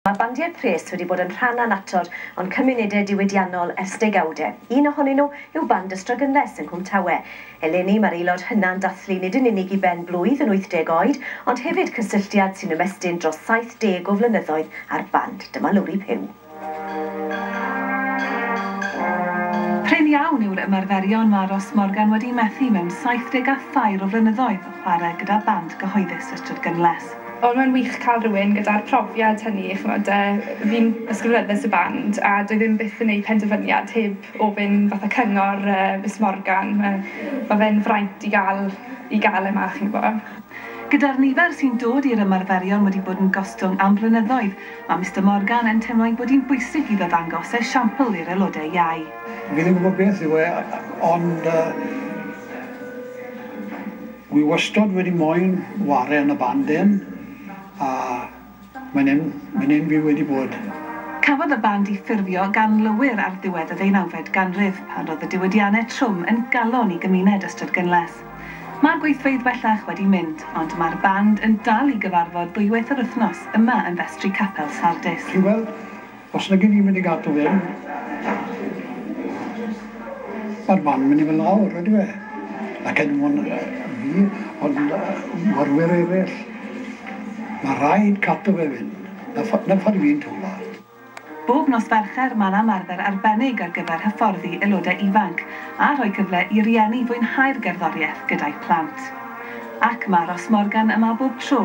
Mae bandiau pres wedi bod yn rhan annatod o'n cymunedau diwydiannol ers degawdau. Un ohonyn nhw yw Band y Strygynles yng Nghwm Tawe. Eleni, mae'r aelod hynna'n dathlu nid yn unig i ben blwydd yn 80 oed, ond hefyd cysylltiad sy'n ymestyn dros 70 o flynyddoedd â'r band. Dyma Lowri Puw. Prin iawn yw'r ymarferion mae Ros Morgan wedi methu mewn saithdeg a thair o flynyddoedd o chwarae gyda band gyhoeddus y Strydgynles. Wel mae'n wych ca'l rywun gyda'r profiad hynny ch'mod yy fi'n ysgrifennydd y band a dwi ddim byth yn neud penderfyniad heb ofyn fatha cyngor yy Miss Morgan ma' ma' fe'n fraint i ga'l i ga'l e 'ma chi'n gwbo. Gyda'r nifer sy'n dod i'r ymarferion wedi bod yn gostwng am flynyddoedd, mae Mister Morgan yn teimlo'i bod hi'n bwysig iddo ddangos esiampl i'r aelodau iau. Fi ddim yn gwybod beth yw e ond yy Wi wastod wedi moyn ware yn y band den a mae'n en mae'n en fi wedi bod. Cafodd y band i ffurfio gan lowyr ar ddiwedd y ddeunawfed ganrif, pan roedd y diwydianne trwm yn galon i gymuned Ystrad Gynlles. Mae'r gweithfeydd bellach wedi mynd, ond mae'r band yn dal i gyfarfod ddwywaith yr wythnos yma yn festri Capel Sardis. Chi'n gweld? Os nagyn ni'n mynd i gadw hyn, mae'r man yn mynd i fod lawr, yndyw e? Ac er mwyn fi, ond morwyr eraill, mae rhaid cadw fe fynd. 'Na ffordd 'na ffordd fi'n teimlo. Bob nos Fercher mae'n ymarfer arbennig ar gyfer hyfforddi aelodau ifanc a rhoi cyfle i rieni fwynhau'r gerddoriaeth gyda'u plant. Ac mae Ros Morgan yma bob tro.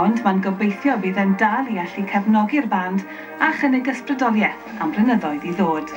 Ond mae'n gobeithio bydd e'n dal i allu cefnogi'r band a chynnig ysbrydoliaeth am flynyddoedd i ddod.